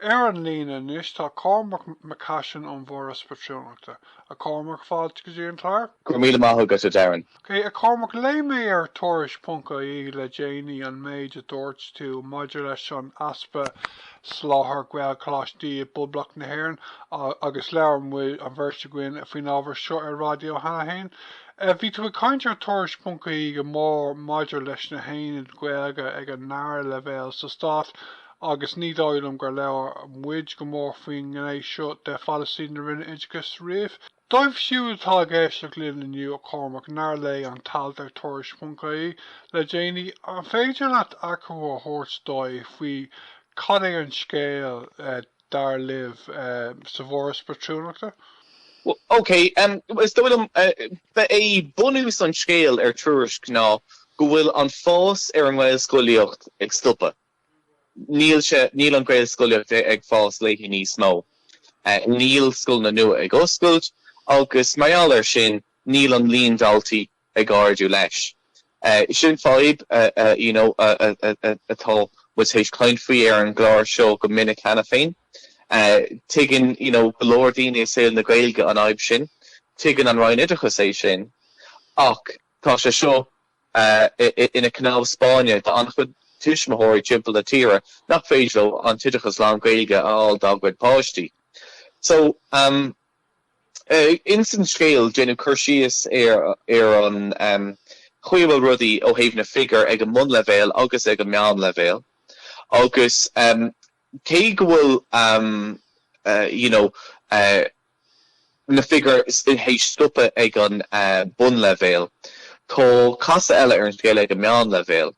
Ar an líne anois tá Cormac Mac Caisín ón bhForas Patrúnachta. A Chormaic, fáilte go dtí an clár. Go raibh míle maith agat, a Darren. Ok, a Chormac, léigh mé ar Tuairisc ponc ie le déanaí an méid a dúirt tú maidir leis an easpa soláthar Gaelcholáistí i bPoblacht na hÉireann agus labhair muid, an bheirt againn, faoin ábhar seo ar raidió cheana féin. Bhí tú ag caint ar Tuairisc ponc ie go mór maidir leis na haonaid Ghaeilge ag an ndara leibhéal sa stát, agus ní dóigh liom gur labhair muid go mór faoin ngné seo de pholasaí na Roinne Oideachais riamh. Dóibh siúd atá ag éisteacht linn inniu, a Chormaic, nár léigh an t-alt ar Tuairisc.ie le déanaí, an féidir leat achoimre a thabhairt dóibh faoi cad é an scéal, dar libh, sa bhForas Patrúnachta? OK, is dóigh liom, ba é bunús an scéil ar Tuairisc ná go bhfuil an fás ar an nGaelscolaíocht ag stopadh. Níl an Ghaelscolaíocht ag fás léi níos mó. Níl scoileanna nua ag oscailt agus mar gheall air sin, níl an líon daltaí ag ardú leis. Sin fadhb, you know, atá muid théis caint faoi ar an gclár seo go minic cheana féin. Tuigeann, you know, go leor daoine i saol na Gaeilge an fhadhb sin. Tuigeann an Roinn Oideachais é sin. Ach. Tá sé seo ina cnámh spairne d'an-chuid tuismitheoirí timpeall na tíre nach féidir leo an t-oideachas lán-Ghaeilge a fháil dá gcuid páistí. So, ins an scéal, déanadh cur síos ar an chaoi a bhfuil rudaí ó thaobh na bhfigiúr ag an mbunleibhéal agus ag an meánleibhéal agus cé go bhfuil, you know, na figiúir théis stopadh ag an mbunleibhéal. Tá casadh eile ar an scéal ag an meánleibhéal.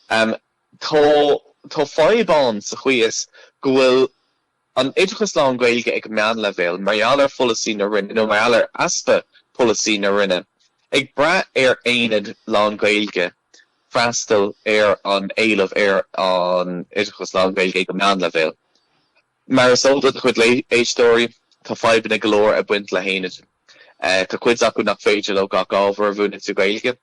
Tá fadhb ann sa chaoi is go bhfuil an oideachas lán-Ghaeilge ag an meánleibhéal, mar gheall ar pholasaí na Roinne, nó mar gheall ar easpa polasaí na Roinne, ag brath ar aonaid lán-Ghaeilge freastal ar an éileamh ar an oideachas lán-Ghaeilge ag an meánleibhéal. Mar is eol do do chuid éisteoirí, tá fadhbanna go leor ag baint le haonaid. Tá cuid acu nach féidir leo gach ábhar a mhúineadh sa Ghaeilge.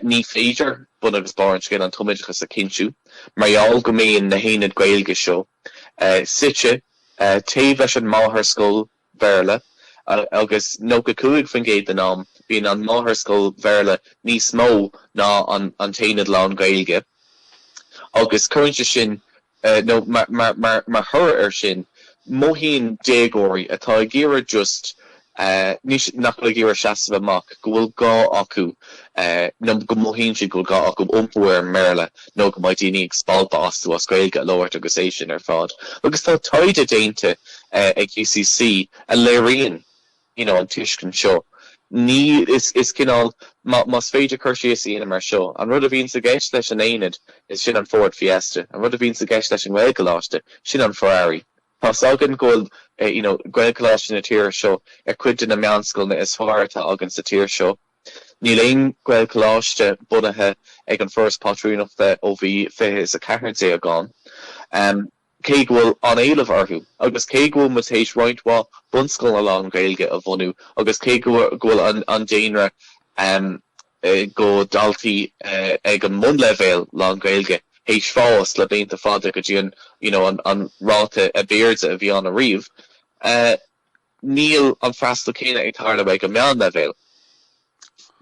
Ní féidir bun agus barr an scéil an tumoideachas a chinntiú mar gheall go mbíonn na haonaid Gaeilge seo suite taobh leis an máthair scoil Bhéarla, agus 95% den am bíonn an máthairscoil Bhéarla níos mó ná an t-aonad lán-Ghaeilge, agus cuireann sé sin, nó mar thoradh air sin, mothaíonn déagóirí atá ag iarraidh just, nach bhfuil ag iarraidh seasamh amach, go bhfuil gá acu, nó go mothaíonn siad go bhfuil gá acu iompú ar an mBéarla. nó go mbeidh daoine ag spalpadh astu as Gaeilge a labhairt agus é sin ar fad agus tá taighde déanta ag UCC a léiríonn you know an tuiscint seo. Ní, is cineál más féidir cur síos a dhéanamh mar seo, an rud a bhíonn sa gceist leis an aonad is sin an Ford Fiesta, an rud a bhíonn sa gceist leis an Ghaelcholáiste, sin an Ferrari. Tá s'againn go bhfuil you know, Gaelcholáiste na tíre seo ar cuid de na meánscoileanna is fearr atá againn sa tír seo. Níl aon Ghaelcholáiste bunaithe ag an bhForas Pátrúnachta ó bhí fiche a ceathair déag ann, cé go bhfuil an-éileamh orthu, agus cé go bhfuil muid théis roinnt mhaith bunscoileanna lán-Ghaeilge a bhunú, agus cé go bhfuil an daonra de dhaltaí ag an mbunleibhéal lán-Ghaeilge théis fás le blianta fada go dtí an, you know, an ráta ab airde a bhí ann ariamh. Níl an freastal céanna ag tarlú ag an meánleibhéal.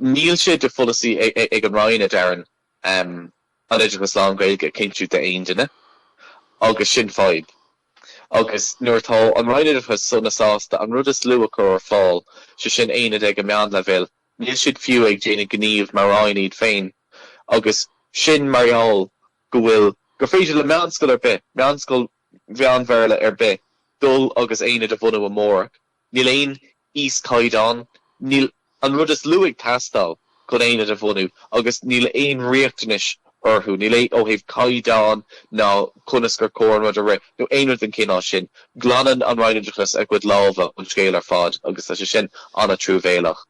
Níl sé de pholasaí ag an Roinn a thuilleadh an oideachas lán-Ghaeilge a chinntiú d'aon duine, agus sin fadhb. Agus nuair atá an Roinn Oideachais sona sásta an rud is lú a chur ar fáil, sé sin Aonaid ag an meánleibhéal, níl siad fiú ag déanamh gníomh mar Roinn iad féin. Agus sin mar gheall go bhfuil, gur féidir le meánscoil ar bith, meánscoil Mheán-Bhéarla ar bith dul agus aonad a bhunú amárach. Níl aon íoschaighdeán, níl an rud is lú ag teastáil chun aonad a bhunú agus níl aon riachtanais orthu, níl aon, ó thaobh caighdeáin ná conas gur chóir an rud a rith nó aon rud den chineál sin. Glanann an Roinn Oideachais a gcuid lámha ón scéal ar fad agus tá sé sin an-truamhéalach.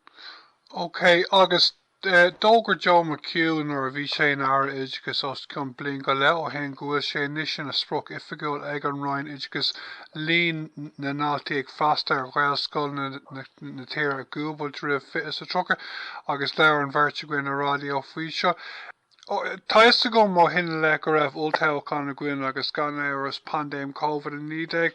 OK, agus D'fhógair Joe McHugh nuair a bhí sé ina Aire Oideachais os cionn bliain go leith ó shin go bhfuil sé anois ina sprioc oifigiúil ag an Roinn Oideachais líon na ndaltaí ag freastal ar Ghaelscoileanna na tíre a dhúbailt faoi 2030 agus labhair an bheirt againn ar raidió faoi seo. Tá fhios agam ó shin i leith go raibh olltoghchán againn agus gan amhras paindéim Covid-19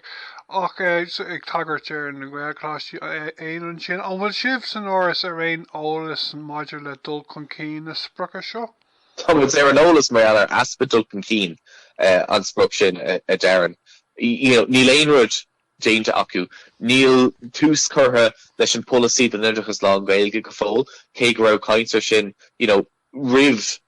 ach ag tagairt do na Gaelcholáistí fhéin ansin, an bhfuil sibh san Fhoras ar aon eolas maidir le dul chun cinn na sprioce seo? Tá muid ar an eolas mar gheall ar easpa dul chun cinn an sprioc sin, a Darren. Níl aon rud déanta acu. Níl tús curtha leis an bpolasaí don oideachas lán-Ghaeilge go fóill cé go raibh caint ar sin you know, roimh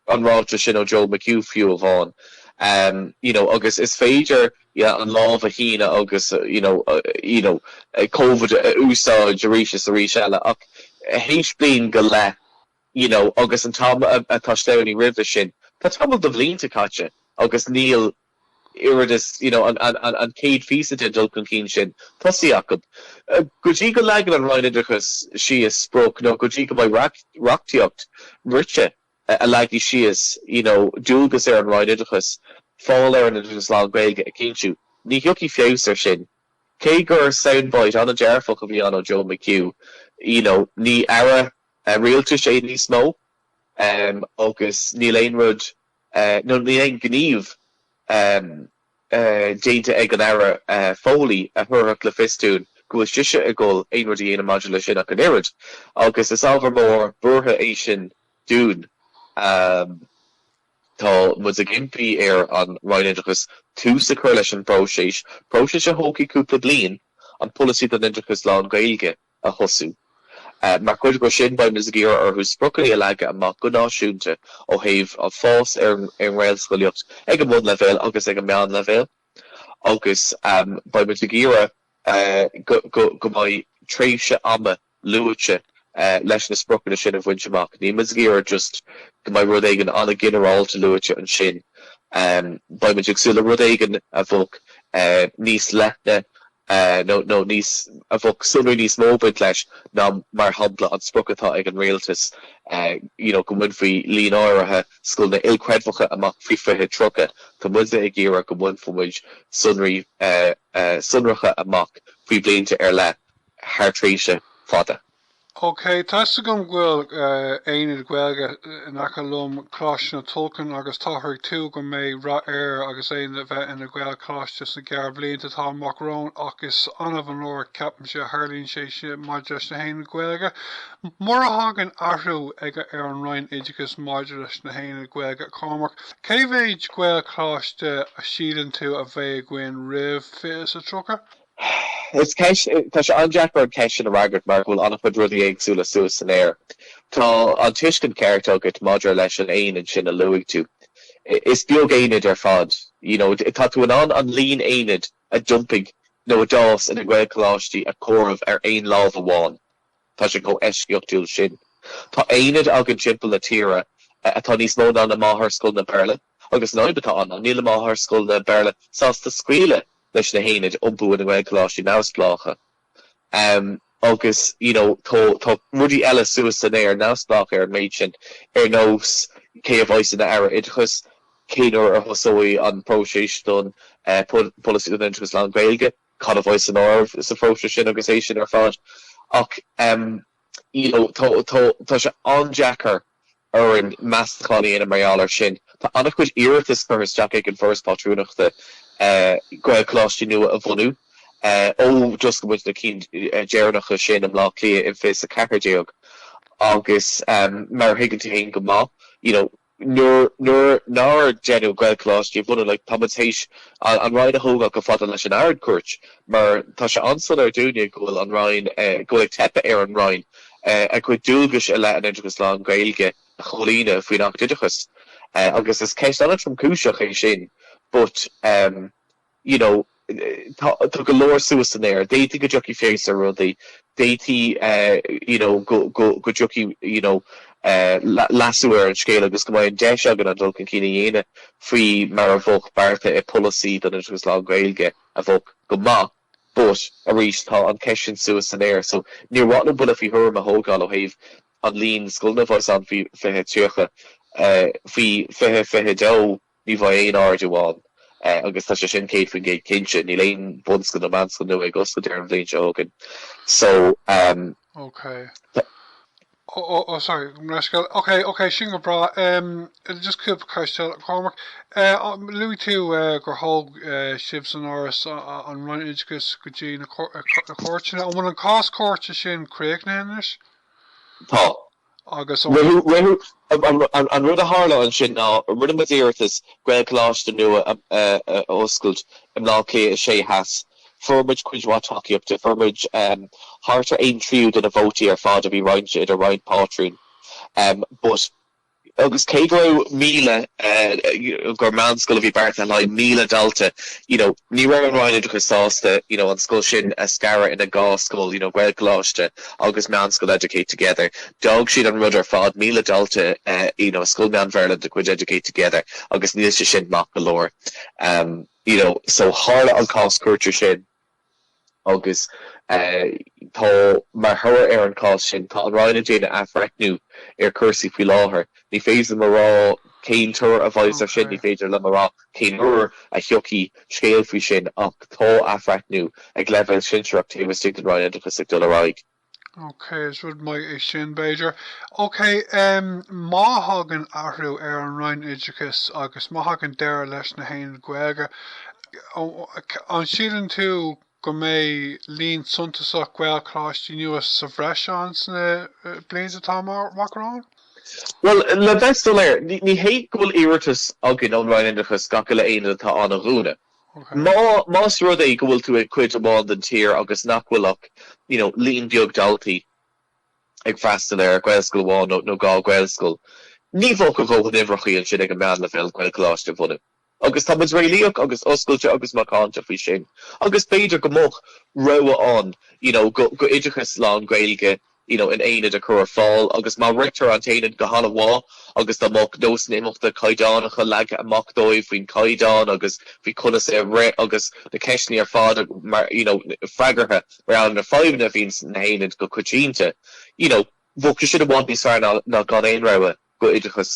an ráiteas sin ó Joe McHugh fiú amháin, you know agus is féidir yeah an lámh a shíneadh agus you know you know covid a úsáid arís is arís eile ach théis bliain go leith you know agus an t-am atá i gceist roimhe sin tá tamall de bhlianta caite agus níl oiread is you know an chéad phíosa den dul chun cinn sin tosaithe acu. Go dtí go leagann an Roinn Oideachais síos sprioc nó go dtí go mbeidh reachtaíocht rite a leagfaidh síos you know dualgas ar an Roinn Oideachais fáil ar an oideachas lán-Ghaeilge a chinntiú, ní thiocfaidh feabhas air sin. Cé gur soundbite an-dearfach a bhí ann ó Joe McHugh, you know ní aire rialtais é níos mó agus níl aon rud. nó níl aon ghníomh déanta ag an Aire Foley a thabharfadh le fios dúinn go bhfuil sise ag dul aon rud a dhéanamh maidir leis sin ach an oiread, agus is ábhar mór buartha é sin dúinn. Tá muid ag impí ar an Roinn Oideachais tús a chur leis an bpróiseas, próiseas a thógfaidh cúpla bliain, an Polasaí don Oideachas Lán-Ghaeilge a. a thosú. Mar chuid de sin, beimis ag iarraidh orthu spriocanna a leagadh amach go náisiúnta ó thaobh an fás ar an nGaelscolaíocht ag an mbunleibhéal agus ag an meánleibhéal agus beimis ag iarraidh go mbeidh tréimhse ama luaite leis na spriocanna sin a bhaint amach. Níl muid ag iarraidh just go mbeidh rud éigin an-ghinearálta luaite ansin. Beimid ag súil le rud éigin a bheadh níos leithne a, nó, nó níos, a bheadh sonraí níos mó ag baint leis ná, mar shampla, an sprioc atá ag an rialtas you know go mbainfí líon áirithe scoileanna ilchreidmheacha amach faoi 2030. Tá muidne ag iarraidh go mbainfeadh muid sonraí sonracha amach faoi bhlianta ar leith thar thréimhse fada. OK, tá 'fhios agam go bhfuil aonad Gaeilge in aice liom, Coláiste na Tulchann, agus táthar ag tuar go mbeidh rath air agus é a bheith ina Ghaelcholáiste sna gearrbhlianta atá amach romhainn ach is annamh an uair ceapaimse a tharlaíonn sé sin maidir leis na haonaid Ghaeilge. Mura dtagann athrú aigne ar an Roinn Oideachais maidir leis na haonaid Ghaeilge, a Chormaic, cé mhéid Gaelcholáiste a síleann tú a bheidh againn roimh 2030? Tá sé an-deacair an cheist sin a fhreagairt mar go bhfuil an-chuid rudaí éagsúla suas san aer. Tá an tuiscint cheart agat maidir leis an aonad sin a luaigh tú. Is beag aonad ar fad, you know. Tá tú in ann an líon aonad a d'iompaigh nó a d'fhás ina Ghaelcholáistí a chomhaireamh ar aon lámh amháin. Tá sé chomh heisceachtúil sin. Tá aonaid againn timpeall na tíre atá níos mó ná na máthairscoileanna Béarla agus an fhadhb atá ann ná níl na máthairscoileanna Béarla sásta scaoileadh leis na haonaid iompú ina nGaelcholáistí neamhspleácha agus you know tá tá rudaí eile suas san aer neamhspleách ar an méid sin ar nós cé a bheas ina Aire Oideachais, cén uair a thosóidh an próiseas don Pholasaí don Oideachas Lán-Ghaeilge. cad a bheidh san áireamh sa phróiseas sin agus é sin ar fad ach you know tá tá tá sé an-deacair orainn meastachán a dhéanamh mar gheall air sin. Tá an-chuid iarratas curtha isteach ag an bhForas Pátrúnachta Gaelcholáistí nua a bhunú ó d'oscail muid na cinn dheireanacha sin i mBleá Cliath in 2014 agus mar a thuigeann tú féin go maith you know Nuair nár deineadh Gaelcholáistí a bhunú, táimid théis an Roinn a thógáil chomh fada leis an Ard-Chúirt, mar tá sé an-soiléir dúinne go bhfuil an Roinn, go bhfuil ag teipeadh ar an Roinn a cuid dualgais i leith an oideachais lán-Ghaeilge a chomhlíonadh faoin Acht Oideachais, agus is ceist an-tromchúiseach é sin. But. you know tá tá go leor suas san aer d'fhéadfadh go dtiocfaidh feabhas ar rudaí d'fhéadfaí eh, you know go go go dtiocfaidh you know eh, le- leasú ar an scéal agus go mbeidh an deis againn an dul chun cinn a dhéanamh faoi mar a bhí beartaithe i bpolasaí don oideachas lán-Ghaeilge a bheadh go maith but arís tá an cheist sin suas san aer so níor mhaith liom buille faoi thuairim a thabhairt ó thaobh an líon scoileanna a bheas ann faoi 2030 eh, faoi 2022 Ní bheidh aon ardú ann agus tá sé sin 100% cinnte. Níl aon bhunscoil nó meánscoil nua ag oscailt an bhliain seo chugainn so tá. Ó, sorry, gabh mo leithscéal. Ok, ok, sin go breá. Just cúpla ceist eile, Cormac. Luaigh tú gur thóg sibhse san Fhoras an Roinn Oideachais go dtí na cúirteanna. An bhfuil an cás cúirte sin críochnaithe anois? Tá. agus ó shin. An rud a tharla ansin ná rinne muid iarratas Gaelcholáiste nua a oscailt i mBleá Cliath 6 Theas. Fuair muid cuid mhaith tacaíochta, fuair muid thart ar aon tríú de na vótaí ar fad a bhí roinnte idir roinnt pátrún but, agus cé go raibh míle, gur meánscoil a bhí beartaithe le haghaidh míle dalta, you know ní raibh an Roinn Oideachais sásta you know an scoil sin a scaradh ina dhá scoil, you know Gaelcholáiste, agus Meánscoil Educate Together. D'fhág siad an rud ar fad, míle dalta you know, scoil mheán Bhéarla de chuid Educate Together agus níl sé sin maith go leor. Um you know, so tharla an cás cúirte sin agus eh tá, mar thoradh ar an cás sin, tá an Roinn ag déanamh athbhreithniú ar chúrsaí faoi láthair. Ní féidir liom a rá cén toradh a bheidh air sin, ní féidir liom a rá, Cén uair a thiocfaidh scéal faoi sin ach tá athbhreithniú ag leibhéal sinsearach taobh istigh den Roinn Oideachais ag dul ar aghaidh. OK, is rud maith é sin, b'fhéidir. OK, má thagann athrú ar an Roinn Oideachais agus má thagann deireadh leis na haonaid Ghaeilge, an síleann tú go go mbeidh líon suntasach Gaelcholáistí nua sa bhreis ann sna blianta atá amach romhainn? Bhuel, le bheith soiléir, ní hé go bhfuil iarratas againn ón Roinn Oideachais gach uile aonad atá ann a dhúnadh. Más rud é go bhfuil tú ag cuid amháin den tír agus nach bhfuil ach you know líon beag daltaí ag freastal ar Ghaelscoil amháin nó dhá Ghaelscoil, ní bheadh a dhóthain uimhreachaí ansin ag an meánleibhéal Gaelcholáiste a bhunú. Agus tá muid réalaíoch agus oscailte agus macánta faoi sin. Agus b'fhéidir go mbeadh rogha ann you know go go oideachas lán-Ghaeilge you know in aonad a chur ar fáil agus má ritear an t-aonad go han-mhaith agus dá mbeadh nósanna imeachta caighdeánacha leagtha amach dóibh faoin gcaighdeán agus faoi conas é a rith agus na ceisteanna ar fad mar you know freagartha mar gheall ar na fadhbanna a bhíonn sna haonaid go coitianta you know bheadh sé sin i bhfad níos fearr ná ná gan aon rogha. go oideachas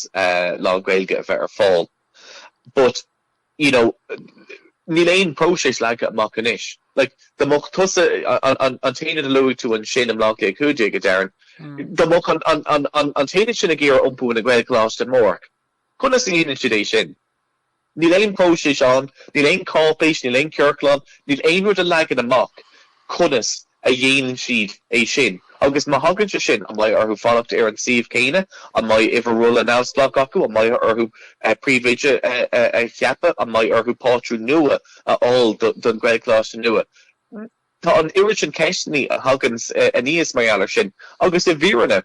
lán-Ghaeilge a bheith ar fáil but you know níl aon phróiseas leagtha amach anois like dá mbeadh tusa an an t-aonad a luaigh tú ansin i mBaile Átha Cliath cúig déag a Darren dá mbeadh an an an an an t-aonad sin ag iarraidh iompú ina Ghaelcholáiste amárach conas a dhéanann siad é sin Níl aon phróiseas ann, níl aon cháipéis, níl aon chiorclán, níl aon rud a leagann amach conas a dhéanann siad é sin. Agus má thagann sé sin, an mbeidh orthu fanacht ar an suíomh céanna, an mbeidh uimhir rolla neamhspleách acu, an mbeidh orthu príomhoide a cheapadh, an mbeidh orthu pátrún nua a fháil don Ghaelcholáiste nua? Tá an oiread sin ceisteanna a thagann aníos mar gheall air sin agus i bhfírinne,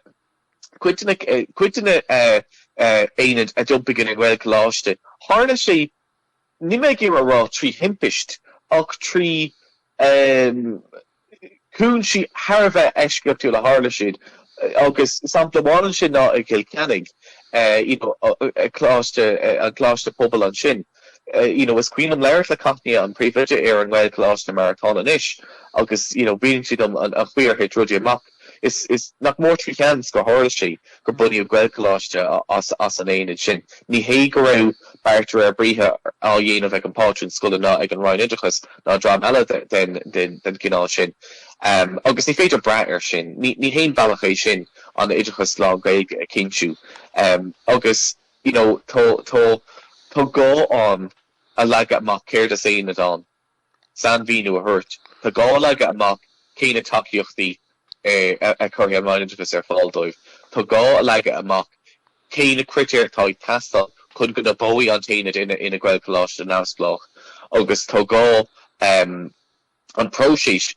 Cuid de na haonaid a d'iompaigh ina nGaelcholáiste, tharla sé, níl mé ag iarraidh a rá trí thimpiste, ach trí chúinsí thar a bheith eisceachtúla a tharla siad. Agus sampla amháin ansin ná i gCill Chainnigh, you know an coláiste pobail ansin, you know is cuimhin liom labhairt le Cathnia, an príomhoide ar an nGaelcholáiste mar atá ann anois, agus you know mhínigh sí dom an chaoi ar thit rudaí amach. Is nach mór trí sheans gur tharla sé gur bunaíodh Gaelcholáiste as an aonad sin. Ní hé go raibh beart de réir briathair á dhéanamh ag an bpátrún scoile ná ag an Roinn Oideachais ná dream eile den chineál sin, agus ní féidir brath air sin. Ní haon bhealach é sin an t-oideachas lán-Ghaeilge a chinntiú agus tá gá ann a leagadh amach céard is aonad ann. sainmhíniú a thabhairt. Tá gá leagadh amach cé na tacaíochtaí a chuirfidh an Roinn Oideachais ar fáil dóibh. Tá gá a leagadh amach cé na critéir atá ag teastáil chun go n-iompóidh an t-aonad ina Ghaelcholáiste neamhspleách agus tá gá an próiseas,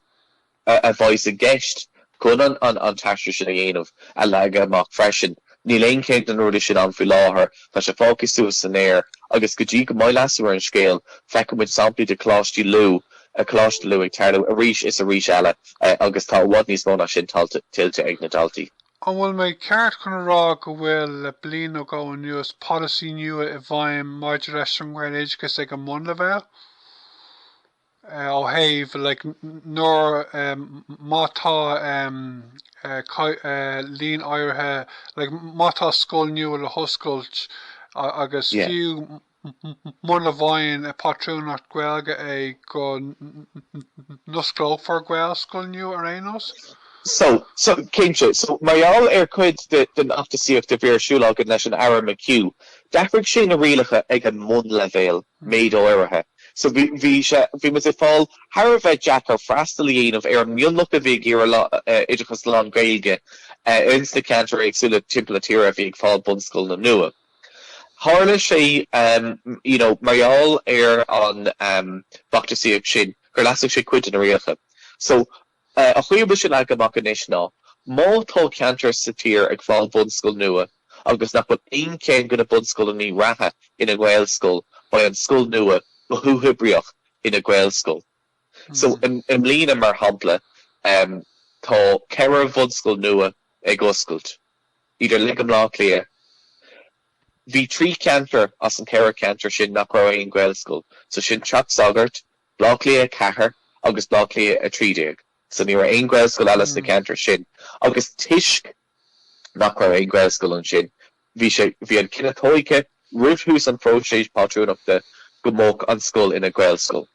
a bheas i gceist chun an t-aistriú sin a dhéanamh, a leagadh amach freisin. Níl aon cheann de na rudaí sin ann faoi láthair, tá sé fágtha suas san aer, agus go dtí go mbeidh leasú ar an scéal, feicfidh muid samplaí de Choláistí Lú, Coláiste Lú ag tarlú arís is arís eile, agus tá i bhfad níos mó ná sin tuillte ag na daltaí. An bhfuil mé ceart chun a rá go bhfuil, le bliain nó dhó anuas, polasaí nua i bhfeidhm maidir leis an nGaeloideachas ag an mbunleibhéal? ó thaobh like nuair má tá líon áirithe like má tá scoil nua le hoscailt agus Yeah. fiú muna bhfaigheann pátrúnacht Gaeilge é go n-osclófar Gaelscoil nua ar aon nós? So, so, cinnte. So, mar gheall ar cuid de, den fheachtasaíocht a bhí ar siúl againn leis an Aire McHugh, d'athraigh sé na rialacha ag an mbunleibhéal, méid áirithe. So bhí, bhí sé, bhí muid ag fáil thar a bheith deacair freastal a dhéanamh ar an mionlach a bhí ag iarraidh oideachas lán-Ghaeilge ins na ceantair éagsúla timpeall na tíre a bhí ag fáil bunscoileanna nua. Tharla sé, you know, mar gheall ar an bhfeachtasaíocht sin gur leasaigh sé cuid de na rialacha. So. An chaoi a bhfuil sé leagtha amach anois ná, má tá ceantar sa tír ag fáil bunscoil nua agus nach bhfuil aon cheann de na bunscoileannaí reatha ina nGaelscoil, beidh an scoil nua go huathoibríoch ina Gaelscoil. So, i mbliana, mar shampla, tá ceithre bhunscoil nua ag oscailt, iad uilig i mBleá Cliath, bhí trí cheantar as an cheithre cheantar sin nach raibh aon Ghaelscoil, so sin Teach Sagart, Bleá Cliath 4 agus Bleá Cliath 13, so ní raibh aon ghaelscoil eile sna ceantair sin agus toisc nach raibh aon ghaelscoil ansin, bhí sé, bhí an cinneadh tóigthe roimh thús an phróiseas pátrúnachta go mbeadh an scoil ina gaelscoil.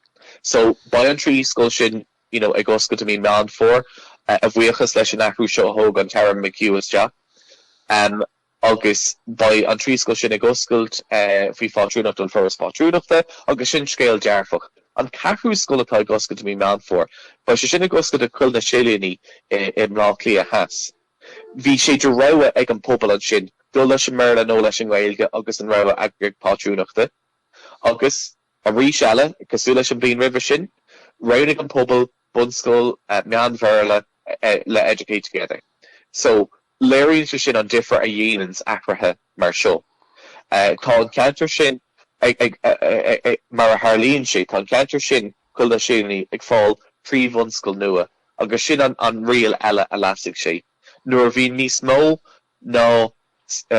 So beidh an trí scoil sin you know ag oscailt i mí Meán Fómhair a bhuíochas leis an athrú seo a thóg an tAire McHugh isteach. agus beidh an trí scoil sin ag oscailt faoi phátrúnacht an Foras Pátrúnachta, agus sin scéal dearfach. An ceathrú scoil atá ag oscailt i mí Meán Fómhair, beidh sé sin ag oscailt i Coill na Silíní i mBleá Cliath Theas. Bhí sé de rogha ag an bpobal ansin dul leis an mBéarla nó leis an nGaeilge agus an rogha eagraíocht pátrúnachta, agus, arís eile, cosúil leis an bhliain roimhe sin, roghnaigh an pobal bunscoil meán-Bhéarla le Educate Together. So léiríonn sé sin an difear a dhéananns athruithe mar seo. Tá an ceantar sin ag, mar a tharlaíonn sé, tá an ceantar sin, Coill na Silíní, ag fáil trí bhunscoil nua agus sin an riail eile a leasaigh sé. Nuair a bhíonn níos mó ná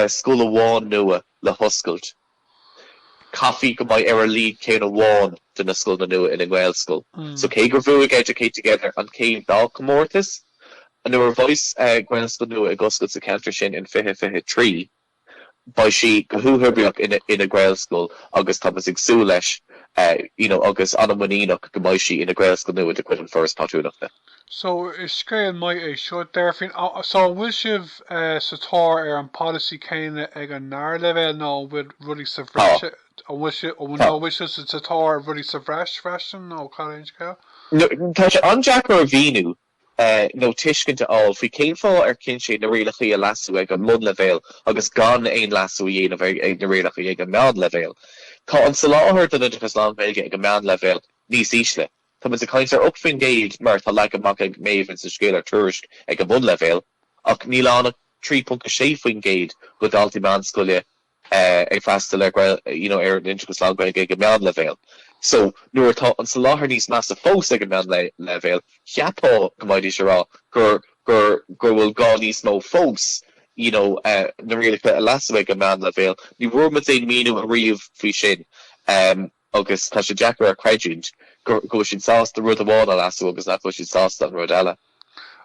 scoil amháin nua le hoscailt, chaithfí go mbeadh ar a laghad ceann amháin de na scoileanna nua ina nGaelscoil so cé gur bhuaigh Educate Together an chéad dá chomórtas, nuair a bheas Gaelscoil nua ag oscailt sa cheantar sin in 2023, beidh sí go huathoibríoch ina Gaelscoil agus tá muid ag súil leis you know agus an-mhuiníneach go mbeidh sí ina Gaelscoil nua de chuid An Foras Pátrúnachta. so is scéal maith é seo, déarfainn. So an bhfuil sibh sa tóir ar an policy céanna ag an ndara leibhéal nó an bhfuil rudaí sa bhreis, an bhfuil sibh, nó an bhfuil sibh sa tóir ar rudaí sa bhreis freisin nó cad é an scéal? No, tá sé an-deacair a mhíniú nó tuiscint a fháil faoi cén fáth ar chinn siad na rialachaí a leasú ag an mbunleibhéal agus gan aon leasú a dhéanamh ar na rialachaí ag an meánleibhéal. Tá an soláthar don oideachas lán-Ghaeilge ag an meánleibhéal níos ísle. Tá muid ag caint ar 8% mar atá leagtha amach ag Maeve ins an scéal ar Tuairisc ag an mbunleibhéal, ach níl ann ach 3.6% de dhaltaí meánscoile ag freastal ar you know ar an oideachas lán-Ghaeilge ag an meánleibhéal. So nuair atá an soláthar níos measa fós ag an meánleibhéal, cheapfá go mbeidís ag rá gur gur go bhfuil gá níos mó fós you know na rialacha a leasú ag an meánleibhéal. Ní bhfuair muid aon mhíniú ariamh faoi sin. agus tá sé deacair a chreidiúint go bhfuil siad sásta rud amháin a leasú agus nach bhfuil siad sásta an rud eile.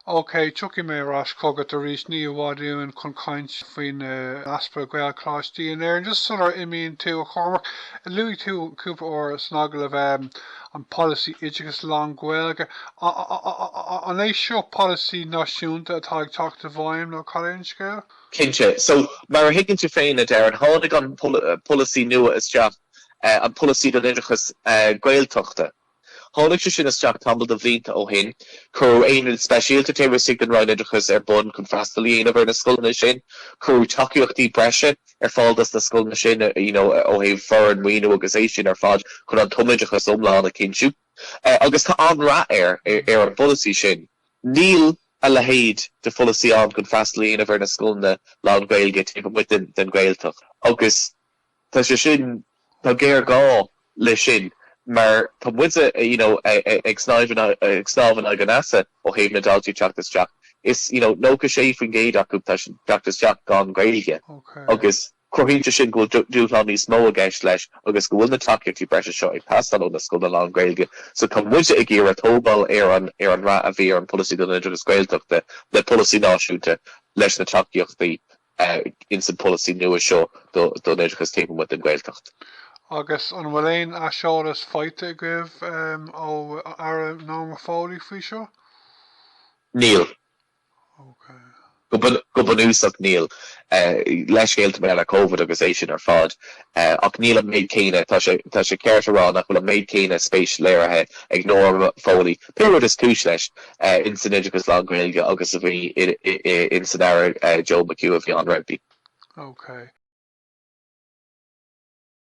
OK, tiocfaidh mé ar ais chugat arís ní i bhfad uainn chun caint faoin easpa Gaelcholáistí in Éirinn. Just sular imíonn tú, a Chormaic, luaigh tú cúpla uair san agallamh an polasaí oideachais lán-Ghaeilge. An é seo polasaí náisiúnta atá ag teacht i bhfeidhm nó cad é an scéal? Cinnte. So, mar a thuigeann tú féin, a Darren, tháinig an polasaí nua isteach an polasaí don oideachas Gaeltachta. Tháinig sé sin isteach tamall de bhlianta ó shin. Cuireadh aonad speisialta taobh istigh den Roinn Oideachais ar bun chun freastal a dhéanamh ar na scoileanna sin. Cuireadh tacaíochtaí breise ar fáil dos na scoileanna sin you know ó thaobh foireann, maoiniú agus é sin ar fad chun an tumoideachas iomlán a chinntiú. Agus tá an-rath air, ar an bpolasaí sin. Níl a leithéid de pholasaí ann chun freastal a dhéanamh ar na scoileanna lán-Ghaeilge taobh amuigh den Ghaeltacht agus, Tá sé sin, tá géarghá leis sin mar tá muide you know ag ag snámh in aghaidh an easa ó thaobh na ndaltaí teacht isteach. Is you know 96% acu tá siad ag teacht isteach gan Ghaeilge agus cruthaíonn sé sin go bhfuil dúshlán níos mó i gceist leis agus go bhfuil na tacaíochtaí breise seo ag teastáil ó na scoileanna lán-Ghaeilge. So tá muide ag iarraidh tógáil ar an ar an rath a bhí ar an Polasaí don Oideachas Gaeltachta le Polasaí Náisiúnta leis na tacaíochtaí ins an pholasaí nua seo don oideachas taobh amuigh den Ghaeltacht. Agus an bhfuil aon aiseolas faighte agaibh ó Aire Norma Foley faoi seo? Níl. Go bunúsach níl. Leithscéalta maidir le Covid agus é sin ar fad. Ach níl an méid céanna, tá sé ceart a rá nach bhfuil an méid céanna spéis léirithe ag Norma Foley, pé rud is cúis leis, ins an oideachas lán-Ghaeilge agus a bhí ins an Aire Joe McHugh a bhí ann roimpi.